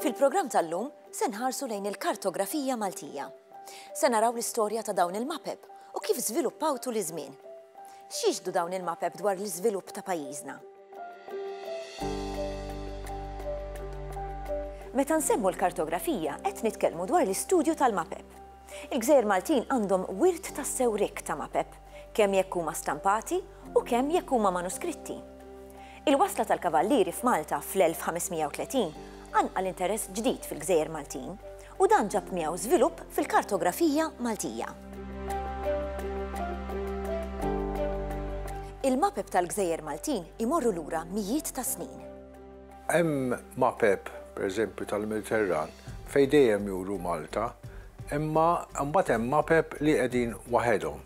Fil-programm tal-lum se nħarsu lejn il-kartografija Maltija. Se naraw l-istorja ta' dawn il-mapep u kif żviluppaw tul iż-żmien. X'jixdu dawn il-mapep dwar l-iżvilupp ta' pajjiżna? Meta nsemmu l-kartografija qed nitkellmu dwar l-istudju tal-mapep. Il-gżejjer Maltin għandhom wirt tassew rikk ta' mapep, kemm jekk huma stampati u kemm jekk huma manuskritti. Il-wasla tal-Kavallieri f'Malta fl-1530 qanqal interess ġdid fil-gżejjer Maltin, u dan ġab miegħu żvilupp fil-kartografija Maltija. Il-mapep tal-gżejjer Maltin imorru lura mijiet ta' snin. Hemm mapep, pereżempju, tal-Mediterran fejn dejjem juru Malta, imma mbagħad hemm mapep li qegħdin waħedhom.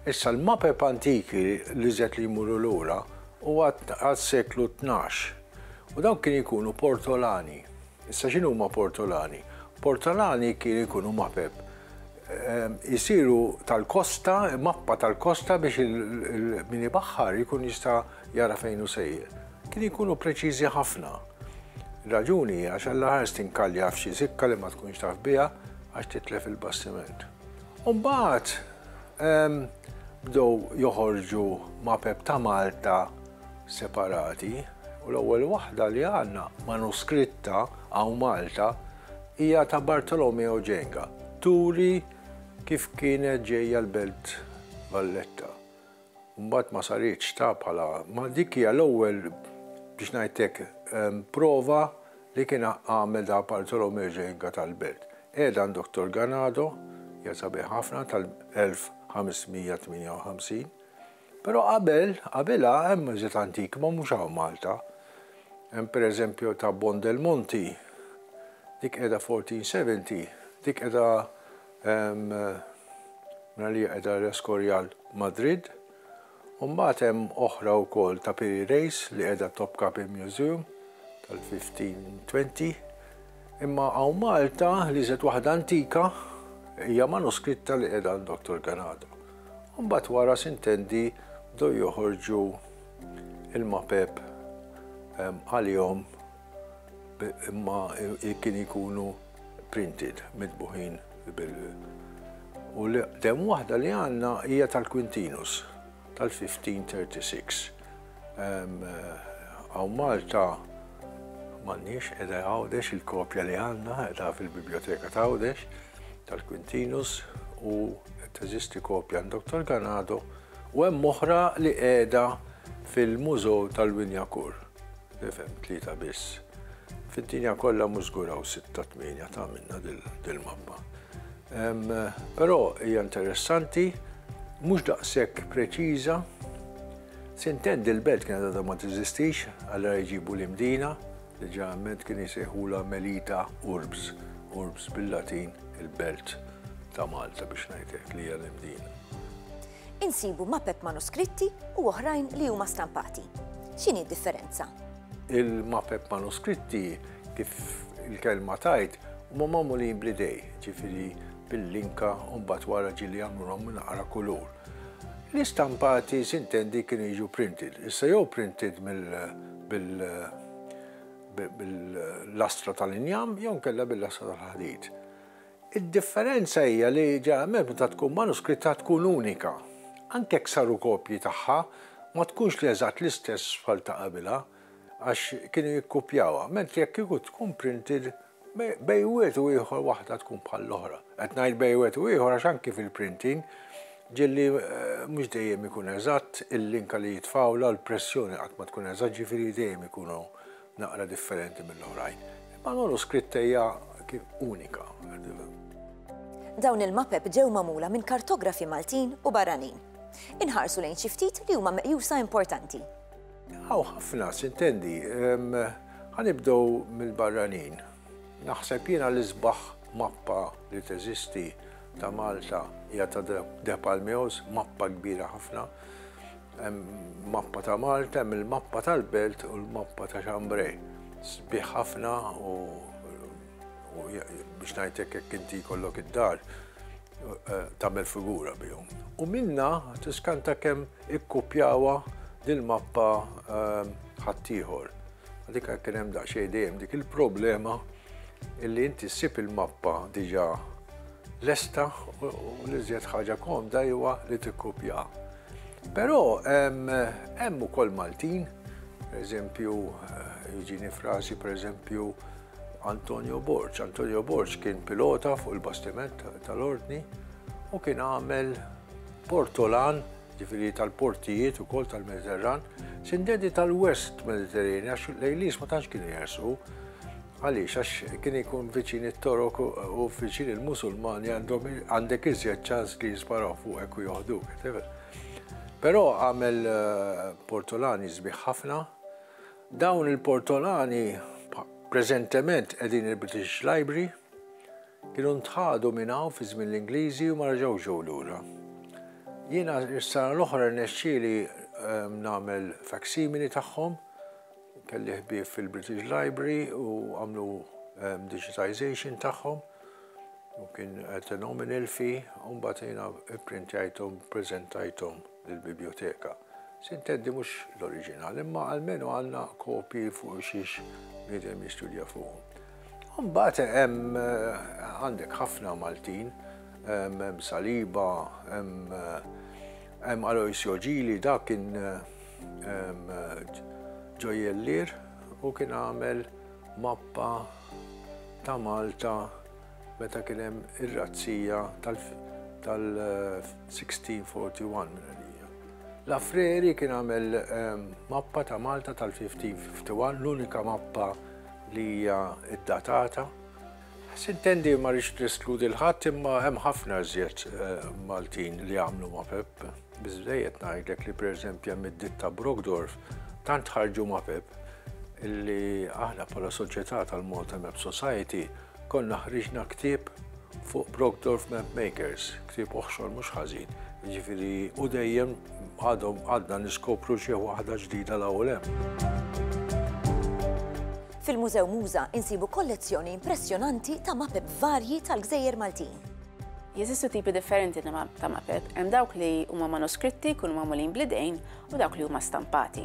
Issa l-mapep antiki l-iżjed li jmorru lura huwa għas-seklu tnax u dawn kienu jkunu portolani. Issa x'inhuma portolani? Portolani kienu jkunu mapep jisiru tal-kosta, mappa tal-kosta biex min ibaħħar jkun jista' jara fejn hu sejjer, kien ikunu preċiżi ħafna. Ir-raġuni hi għax Alla ħares tinkalja f'xi sikka li ma tkunx taf biha għax titlef il-bastiment. U mbagħad ehm, bdew joħorġu mapep ta' Malta separati u l-ewwel waħda li għandna manuskritta għaw Malta hija ta' Bartolomeo Ġenga, turi kif kienet ġejja l-belt Valletta. u mbagħad ma saritx ta' bħala, ma dik hija l-ewwel biex ngħidlek prova li kien għamel da Bartolomeo Genga tal-belt. Qiegħed għand Dottor Ganado, qiegħed sabiħ ħafna tal-1558, però qabel qabilha hemm iżjed antik ma mhux hawn Malta. Hemm pereżempju ta' Bon del Monti, dik qiegħda 1470, dik qiegħda Hemm mela li qiegħda l-Escorial Madrid u mbagħad hemm oħra wkoll ta' Piri Reis li qiegħda Topkapi Museum tal-1520. Imma hawn Malta l-iżjed waħda antika hija manuskritta li qiegħda għand Doctor Ganado. U mbagħad wara sintendi bdew joħorġu il-mapep għalihom imma kien ikunu printed, mitbuħin bil u li dem waħda li għanna hija tal-Quintinus tal-1536. Għaw Malta m'għandniex edha għawdex il-kopja li għanna edha fil-biblioteka ta' għawdex tal-Quintinus u teżisti kopja għandok tal-Ganado u hemm oħra li qiegħda fil-Mużew tal-Winjakur. Nifhem tlieta biss. Fid-dinja kollha mhux żgur hawn sitta tmienja ta' minna dil-mappa. Però hija interessanti, mhux daqshekk preċiża. Sintent dil-belt kienet għadha ma tiżistix, allura jġibu l-imdina, li ġeneralment kien jsejħulha Melita Urbs, Urbs bil-Latin il-belt ta' Malta biex ngħidlek li hija l-imdina. Insibu mapep manuskritti u oħrajn li huma stampati. X'inhi d-differenza? Il-mapep manuskritti kif il-kelma tajt huma magħmulin bl-idej, ġifieri bil-linka u mbagħad wara ġili jagħmlulhom minn aqra kulur. L-istampati sintendi kienu jiġu printed, issa jew printed bil-lastra tal-injam jew kella bil-lastra tal-ħadid. Id-differenza hija li ġeneralment meta tkun manuskritta tkun unika. Anke jekk saru kopji tagħha, ma tkunx li eżatt l-istess bħal ta' qabilha, għax kienu jikkupjawha, mentri jekk kieku tkun printed, bejn wieħed u ieħor waħda tkun bħall-oħra. Qed ngħid bejn wieħed u ieħor għax anki fil-printing, ġieli mhux dejjem ikun eżatt, il-linka li jitfgħulha u l-pressjoni qatt ma tkun eżatt, ġifieri dejjem ikunu naqra differenti mill-oħrajn, imma l-manuskritt hija unika. Dawn il-mapep ġew magħmula minn kartografi Maltin u barranin. Inħarsu lejn xi ftit li huma meqjusa importanti. Hawn ħafna, sintendi, ħanibdew mill-barranin. Naħseb jiena l-isbaħ mappa li teżisti ta' Malta hija ta' De Palmeos, mappa kbira ħafna. Hemm mappa ta' Malta, hemm il-mappa tal-Belt u l-mappa ta' Chambray. Sbieħ ħafna u biex ngħid hekk jekk inti jkollok id-dar eh, tagħmel figura bihom. U minna tiskanta kemm ikkupjawa dil-mappa eh, ħaddieħor. Dik kien hemm daqsxejn dejjem dik il-problema illi inti ssib il-mappa diġà lesta u li żjed ħaġa komda huwa li tikkupjaha. Però hemm ukoll Maltin, pereżempju jiġini f'rasi pereżempju Antonio Borg. Antonio Borg kien pilota fuq il-bastiment tal-Ordni u kien għamel portolan ġifiri tal-portijiet u kol tal-Mediterran, sindedi tal-West Mediterranean, għax l-Ejlis ma tantx kienu jersu, Għaliex? Għax kien ikun viċin it-Torok u viċin il-Musulmani għandhom għandek iżjed ċans li jisparaw fuqek u joħduk. Però għamel eh, portolani sbieħ ħafna. Dawn il-portolani preżentement qegħdin il-British Library kienu ntħadu minn hawn fi żmien l-Ingliżi u ma raġaw ġew lura. Jiena s-sena l-oħra nexxieli eh, nagħmel faksimili tagħhom Kelli ħbieb fil-British Library u għamlu digitization tagħhom u kien phenomenal fi u mbagħad jiena pprintjajthom preżentajthom lill-bibjoteka. Sinteddi mhux l-oriġinal, imma almenu għandna kopji fuq xiex bniedem jistudja fuqhom. Mbagħad hemm għandek ħafna Maltin, hemm Saliba, hemm Aloisio Ġili, dak kien Ġojellier u kien għamel mappa ta' Malta meta kien hemm ir-razzija tal-1641. L-Affreri kien għamel mappa ta' Malta tal-1551, l-unika mappa li hija ddatata. Sintendi ma rridx neskludi l-ħadd imma hemm ħafna iżjed Maltin li għamlu mapep. Biżżejjed ngħidlek li pereżempju hemm id-ditta Brockdorf tant ħarġu ma' Pep illi aħna bħala soċjetà tal-Malta Map Society konna ħriġna ktieb fuq Brockdorf Map Makers, ktieb oħxor mhux ħażin. Jiġifieri u dejjem għadhom għadna niskopru xi waħda ġdida l-ewwel hemm. Fil-Mużew Muża insibu kollezzjoni impressjonanti ta' mapep varji tal-gżejjer Maltin. Jeżistu tipi differenti ta' mapep, hemm dawk li huma manuskritti jkunu magħmulin bl-idejn u dawk li huma stampati.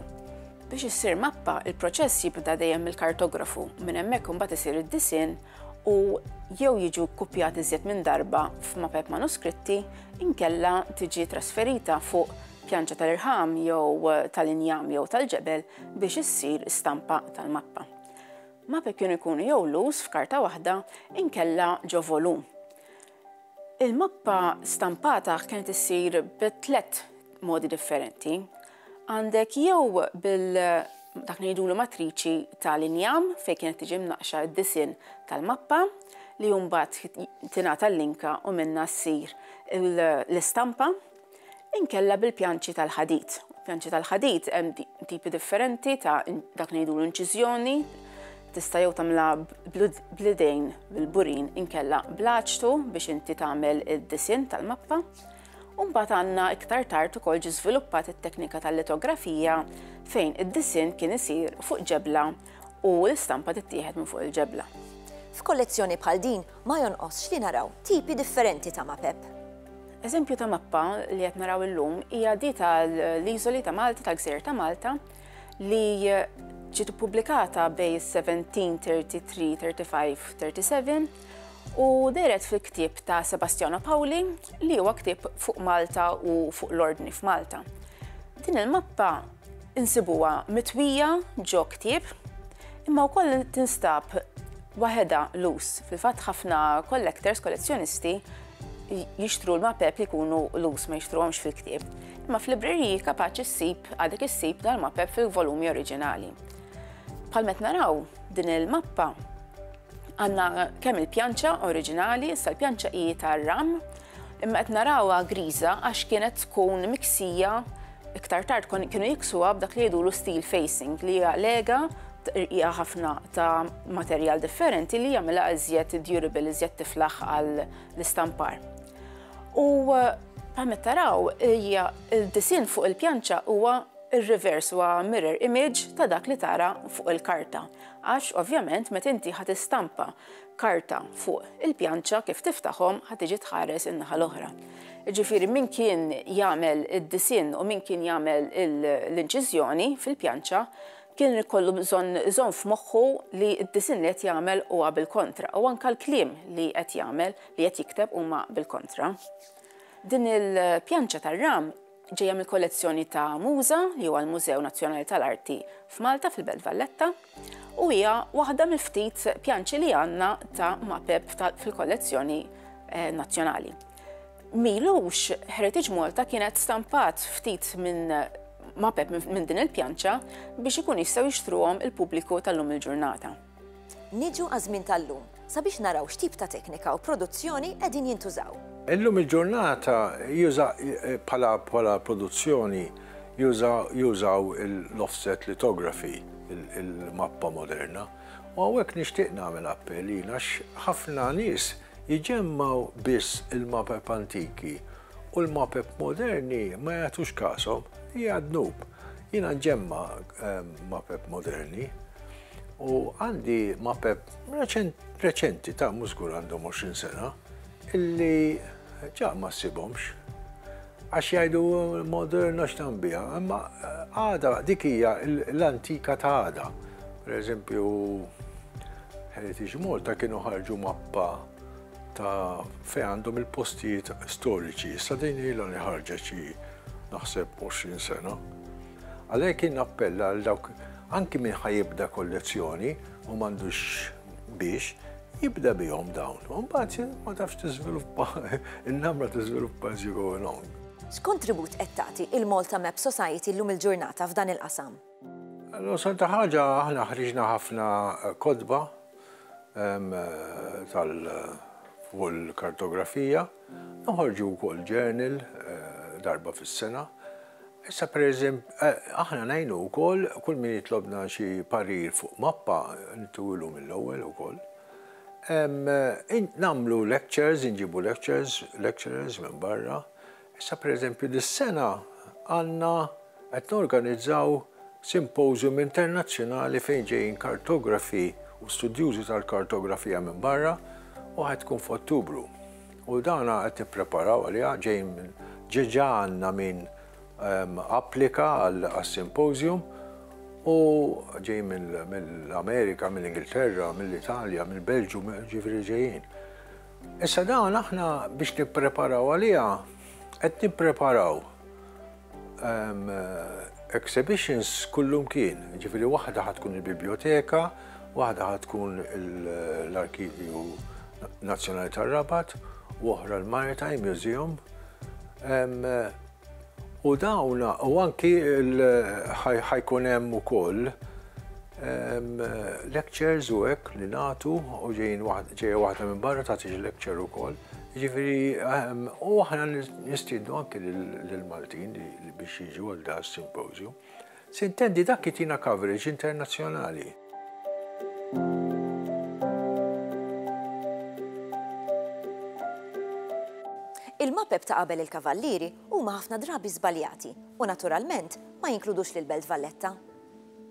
Biex issir mappa, il-proċess jibda dejjem mill-kartografu, minn hemmhekk imbagħad isir id-disinn u jew jiġu kkupjat iżjed minn darba f'mapep manuskritti inkella tiġi trasferita fuq pjanċa tal-irħam jew tal-injam jew tal-ġebel biex issir stampa tal-mappa. ma' pekjun ikunu jew lus f'karta waħda inkella ġo volum. Il-mappa stampata kienet issir bi tliet modi differenti. Għandek jew bil dak li jidulu matriċi tal-injam fejn kienet tiġi mnaqxa d-disinn tal-mappa li mbagħad tingħata l-linka u minnha ssir l-istampa inkella bil-pjanċi tal-ħadid. Pjanċi tal-ħadid hemm tipi differenti ta' dak li ngħidulu inċiżjoni, tista' jew tagħmilha bl-idejn bil-burin inkella bl-aċtu biex inti tagħmel id-disinn tal-mappa. U mbagħad għandna iktar tard ukoll ġi żviluppat it-teknika tal-litografija fejn id-disinn kien isir fuq ġebla u l-istampa tittieħed minn fuq il-ġebla. F'kollezzjoni bħal din ma jonqosx li naraw tipi differenti ta' mapep. Eżempju ta' mappa li qed naraw illum hija di tal-Iżoli ta' Malta tal-Gżejjer ta' Malta li ġiet ippubblikata bej 1733, 35, 37 u deret fil-ktieb ta' Sebastiano Pauli li huwa ktieb fuq Malta u fuq l-ordni f'Malta. Din il-mappa Insibuha mitwija ġo ktieb, imma wkoll tinstab waħedha lus. Fil-fatt ħafna collectors, kollezzjonisti, jixtru l-mapep li jkunu lus ma jixtruhomx fil-ktieb. Imma f'libreriji kapaċi ssib għadek issib dal-mapep fil-volumi oriġinali. Bħal met naraw din il-mappa Għandna kemm il-pjanċa oriġinali, issa l-pjanċa hi tar-ram, imma qed narawha griża għax kienet tkun miksija iktar tard kienu jiksuha b'dak li jgħidulu steel facing li hija lega hija ħafna ta' materjal differenti li jagħmilha iżjed durable, iżjed tiflaħ għall-istampar. U bħalma taraw hija l-disinn fuq il-pjanċa huwa r-reverse huwa mirror image ta' dak li tara fuq il-karta. Għax, ovvjament, meta inti ħa tistampa karta fuq il-pjanċa, kif tiftaħhom ħa tiġi tħares in-naħa l-oħra. Jiġifieri min kien jagħmel id-disinn u min kien jagħmel l-inċiżjoni fil-pjanċa kien ikollu bżonn iżomm f'moħħu li d-disinn li qed jagħmel huwa bil-kontra u anke l-kliem li qed jagħmel li qed jikteb huma bil-kontra. Din il-pjanċa tar-ram ġejja mill-kollezzjoni ta' MUSA, li huwa l-Mużew Nazzjonali tal-Arti f'Malta fil-Belt Valletta, u hija waħda mill-ftit pjanċi li għandna ta' mapep fil-kollezzjoni eh, nazzjonali. Milux Heritage Malta kienet stampat ftit minn mapep minn din il-pjanċa biex ikun jistgħu jixtruhom il-pubbliku tal-lum il-ġurnata. Niġu għaż-żmien tal-lum sabiex naraw x'tip ta' teknika u produzzjoni qegħdin jintużaw. Illum il-ġurnata juża bħala bħala produzzjoni juża jużaw l-offset lithography il-mappa moderna u hawnhekk nixtieq nagħmel appell jien għax ħafna nies jġemmgħu biss il-mapep antiki u l-mapep moderni ma jagħtux kashom, hija dnub. Jiena nġemma' mapep moderni. U għandi ma' Pep reċenti ta' mużgur għandhom 20 sena illi ġa ma ssibhomx. Għax jgħidu moderna x'tambija, imma eh, għada dik hija l-antika ta' għada. Per eżempju, Heritage Malta kienu ħarġu mappa ta' fej għandhom il-postijiet storiċi. Issa din ilha li ħarġet xi naħseb 20 sena. Għalhekk jien nappella għal dawk anki min ħa jibda kollezzjoni u m'għandux biex, jibda bihom dawn. U mbagħad ma tafx tiżviluppa, in-namra tiżviluppa as you go along. X'kontribut qed tagħti il-Malta Map Society llum il-ġurnata f'dan il-qasam? L-osal ta' ħaġa aħna ħriġna ħafna kotba tal fuq il-kartografija, noħorġu wkoll journal darba fis-sena. Issa pereżemp, aħna ngħinu wkoll kull min jitlobna xi parir fuq mappa, nittuwilu mill-ewwel ukoll. Nagħmlu lectures, inġibu lectures, lecturers minn barra. Issa pereżempju dis-sena għandna qed norganizzaw symposium internazzjonali fejn ġejjin kartografi u studjużi tal-kartografija minn barra u ħa tkun f'Ottubru. U dan qed nippreparaw għaliha, ġej minn, ġeġa għandna min applika għas-symposium u ġej mill-Amerika, mill-Ingilterra, mill-Italja, mill-Belġju, ġifieri ġejjin. Issa dawn aħna biex nippreparaw għaliha qed nippreparaw Exhibitions kullumkien, ġifieri waħda ħad tkun il-Bibljoteka, waħda ħad tkun l-Arkivju Nazzjonali tar-Rabat, u oħra l-Maritime Museum. U dawna, u anki ħajkun hemm ukoll lectures u hekk li nagħtu u ġejjin ġejja waħda minn barra tagħti xi lecture ukoll. Jiġifieri, u aħna nistiednu anki lill-Maltin li biex jiġu għal da s-simpożju. Sintendi dak jitina coverage internazzjonali. Il-mapep ta' qabel il-Kavallieri huma ħafna drabi żbaljati u naturalment ma jinkludux lill-Belt Valletta.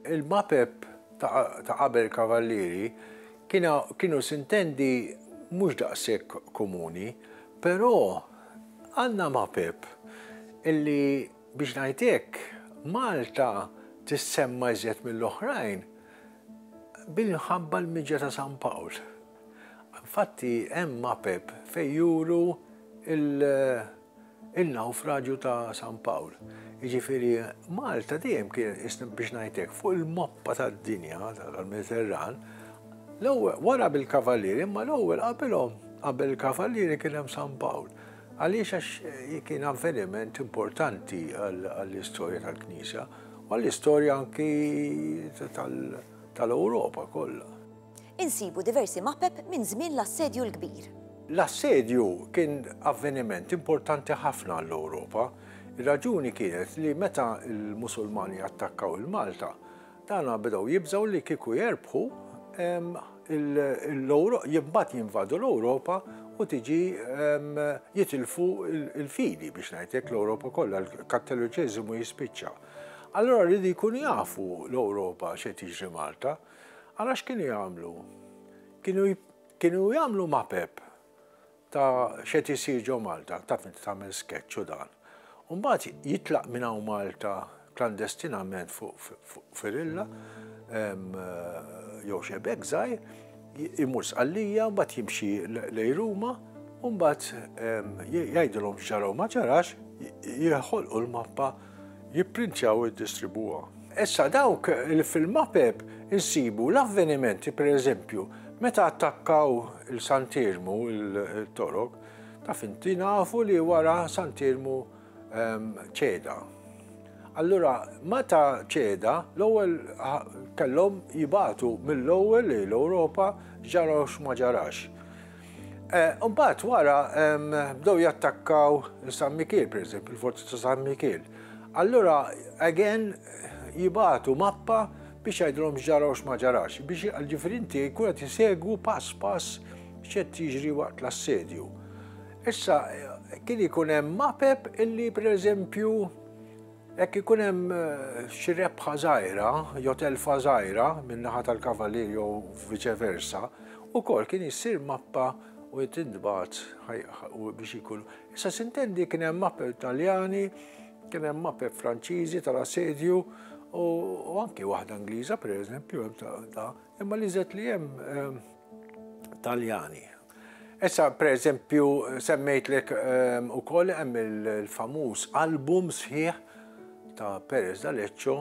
Il-mapep ta' qabel il-Kavallieri Kienu sintendi mhux daqshekk komuni, però Anna Mapep illi biex ngħid hekk Malta tissemma iżjed mill-oħrajn minħabba l-miġja ta' San Pawl. Infatti hemm Mapep fejn juru in-nawfraġju ta' San Pawl. Jiġifieri Malta dejjem kienet qisna biex ngħid hekk fuq il-mappa tad-dinja tal-Mediterran, l-ewwel wara bil-Kavallieri imma l-ewwel qabilhom qabel il-Kavallieri kien hemm San Pawl. Għaliex għax kien avveniment importanti għall-istorja tal-Knisja u għall-istorja anki tal-Ewropa kollha. Insibu diversi mapep minn żmien l-Assedju l-Kbir. L-Assedju kien avveniment importanti ħafna għall-Ewropa. Ir-raġuni kienet li meta l-Musulmani attakkaw il-Malta, dana bdew jibżgħu li kieku jerbħu, imbagħad jinvadu l-Ewropa u tiġi jitilfu l-fidi, biex ngħid hekk, l-Ewropa kollha, l-Kattoliċiżmu jispiċċa. Allura rridu jkunu jafu l-Ewropa x'qed jiġri Malta. Allora x'kienu jagħmlu? Kienu kienu jagħmlu mapep ta' xed isir ġo Malta, taf inti tagħmel sketch u dan. Umbagħad jitlaq minn hawn Malta klandestinament fuq firilla jew xebek żgħir, imur sqallija, mbagħad jimxi lej Ruma, u mbagħad jgħidilhom x'ġaraw ma ġarax, jħolqu l-mappa jipprintjaw u jiddistribwuha. Issa dawk li fil-map app insibu l-avvenimenti pereżempju meta attakkaw il-Sant'Iermu il-Torok, taf inti nafu li wara Sant'Iermu ċeda. Allura meta ċeda l-ewwel kellhom jibagħtu mill-ewwel lejn l-Ewropa x'ġara u x'ma ġarax. Mbagħad wara bdew jattakkaw San Mikiel, pereżempju, il-forzi ta' San Mikiel. Allura again jibatu mappa biex jgħidilhom x'ġara u x'ma ġarax, biex ġifieri inti jkun qed isegwu pass pass x'qed jiġri waqt l-assedju. Issa kien ikun hemm mapep illi pereżempju Jekk ikun hemm xi rebħa żgħira jew telfa żgħira min-naħa tal-kavalier jew viċe versa, ukoll kien issir mappa u tintbagħat biex ikun. Issa sintendi kien hemm mappe Taljani, kien hemm mappe Franċiżi tal-assedju u anki waħda Ingliża pereżempju hemm ta' imma li żed li hemm Taljani Issa, per eżempju, semmejtlek ehm, u koll hemm il-famuż album sħiħ ta' Perez Daleccio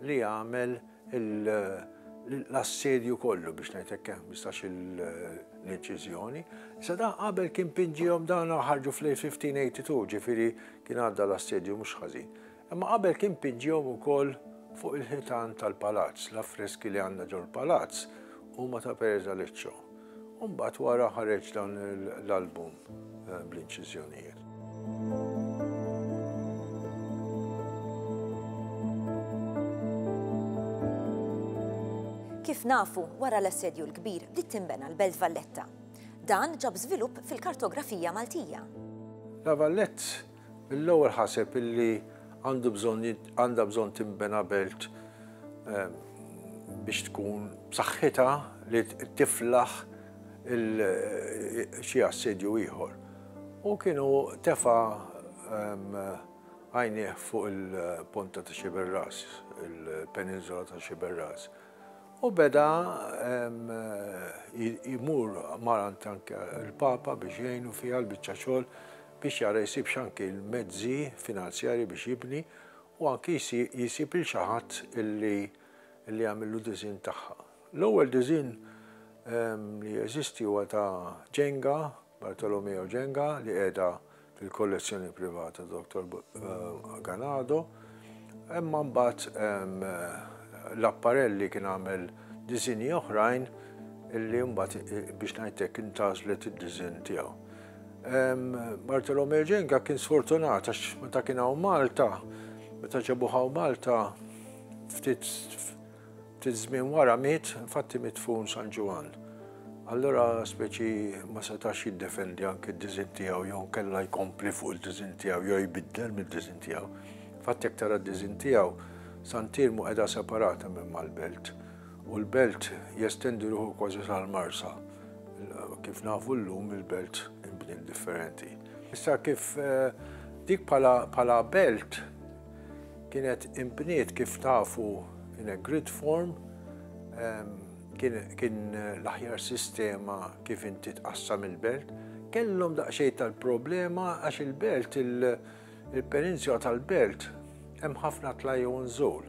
li għamel l-assedju kollu biex ngħidlek hemm bistax l-inċiżjoni. Issa da qabel kien pinġihom dan ħarġu fl-1582, ġifieri kien għadda l-assedju mhux ħażin. Imma qabel kien piġġjhom ukoll fuq il-ħitan tal-palazz, l-affreski li għandna ġol-palazz huma ta' Perez Aleccio. U mbagħad wara ħareġ dan l-album eh, bl-inċiżjonijiet. Kif nafu, wara l-assedju l-kbir bdiet tinbena l-Belt Valletta. Dan ġab żvilupp fil-kartografija Maltija. La Vallett Mill-ewwel ħaseb illi għandu bżonn għandha bżonn tinbena belt biex tkun b'saħħitha li tiflaħ xi assedju ieħor. U kienu tefa' għajnieh fuq il-ponta ta' Xiberras, il-peninsula ta' Xiberras. U beda jmur mar anke il-Papa biex jgħinu fiha l-biċċa xogħol biex jara jsibx anki l-mezzi finanzjarji biex jibni u anki jsib lil xi ħadd illi illi jagħmillu disinn tagħha. L-ewwel disinn li jeżisti huwa ta' Jenga, Bartolomeo Jenga, li qiegħda fil-kollezzjoni privata ta' Dottor Ganado. Imma mbagħad Lapparelli kien għamel diżinji oħrajn illi mbagħad biex ngħid hekk intgħażlet id-diżinn tiegħu. Bartolomeo Genga kien sfortunat għax meta kien hawn Malta, meta ġabuh hawn Malta ftit Ftit żmien wara miet, infatti midfun San Ġwann. Allura speċi ma setax jiddefendi anki d-diżinn tiegħu jew inkella jkompli fuq il-diżinn tiegħu jew jbiddel mid-diżinn tiegħu. Infatti jekk tara d-diżinn tiegħu, San Tirmu qiegħda separata minn mal-belt u l-belt jestendi ruħu kważi sal-Marsa. Kif nafu llum il-belt inbniet differenti. Issa kif eh, dik bħala belt Kienet imbniet kif tafu in a grid form, kien l-aħjar sistema kif inti tqassam il-belt. Kellhom daqsxejn tal-problema għax il-belt il-peninsula tal-belt hemm ħafna tlajju nżul.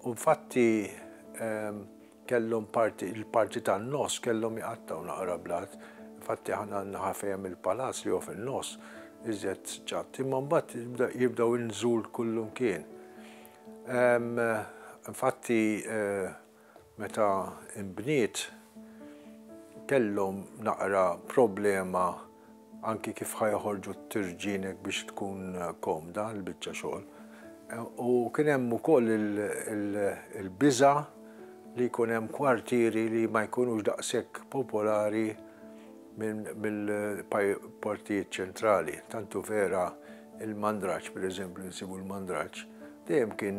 U fatti Kellhom parti, il-parti tan-nofs kellhom iqattgħu naqra blat. Infatti aħna n-naħa fejn hemm il-palazz li hu fin-nofs iżjed ġatt. Imma mbagħad jibdew inżul kullumkien. Infatti meta nbniet kellhom naqra problema anki kif ħa joħorġu t-tirġienek biex tkun komda l-biċċa xogħol. U kien hemm ukoll il-biża' li jkun hemm kwartieri li ma jkunux daqshekk popolari mill-partijiet ċentrali. Tantu vera il-Mandraġġ, pereżempju, insibu l-Mandraġġ, dejjem kien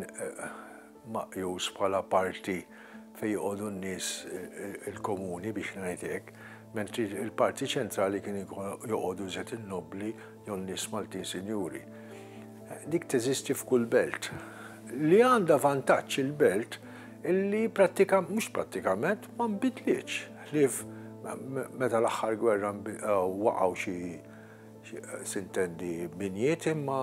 maqjus bħala parti fejn joqogħdu n-nies il-komuni biex ngħid hekk, mentri l-parti ċentrali kien joqogħdu iżjed in-nobbli jew n-nies Maltin sinjuri. Dik teżisti f'kull belt. Li għandha vantaġġ il-belt illi prattikament, mhux prattikament, ma nbidlitx ħlief meta l-aħħar gwerra waqgħu xi Sintendi binjiet imma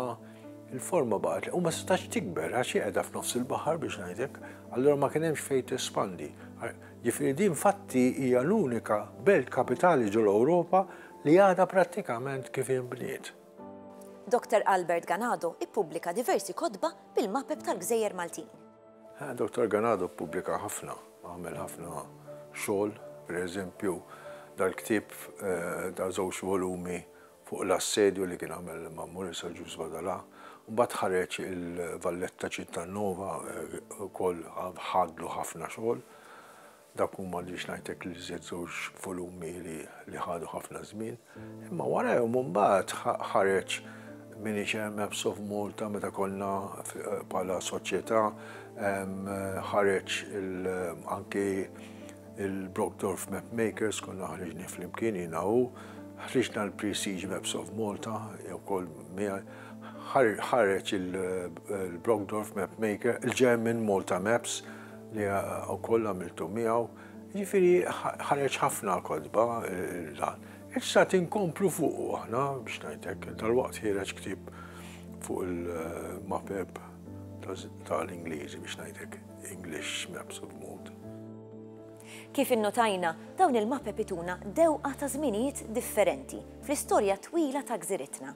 l-forma baqgħet u ma setax tikber għax hi qiegħda f'nofs il-baħar biex ngħidlek, allura ma kien hemmx fejn tespandi. Ġifieri din fatti hija l-unika belt kapitali ġol-Ewropa li għadha prattikament kif inbniet. Doctor Albert Ganado ippubblika diversi kotba bil-mapep tal-gżejjer Maltin. Dottor Ganado ppubblika ħafna, għamel ħafna xogħol, pereżempju dal-ktieb ta' żewġ volumi fuq l-assedju li kien għamel ma' Murisa Ġuż Badalà. Mbagħad ħareġ il-Valletta Città Nova, ukoll ħadlu ħafna xogħol. Dak hu m'għandix ngħidlek l-iżjed żewġ volumi li ħadu ħafna żmien, imma warajhom imbagħad ħareġ Minix Hemm Maps of Malta meta konna bħala soċjetà ħareġ anke il-Brockdorf Map Makers konna ħriġni flimkien jiena u ħriġna l-Prestige Maps of Malta jew kol ħareġ il-Brockdorf Map Maker, il-German Malta Maps li wkoll għamiltu miegħu, jiġifieri ħareġ ħafna kotba dan. Issa tinkomplu fuqu aħna biex ngħidlek, dalwaqt ħireġ ktieb fuq il-mapep tal-Ingliżi biex ngħidlek English Maps of Mood. Kif innotajna, dawn il-mapep ituna dewqa ta' żminijiet differenti fl-istorja twila ta' gżiritna.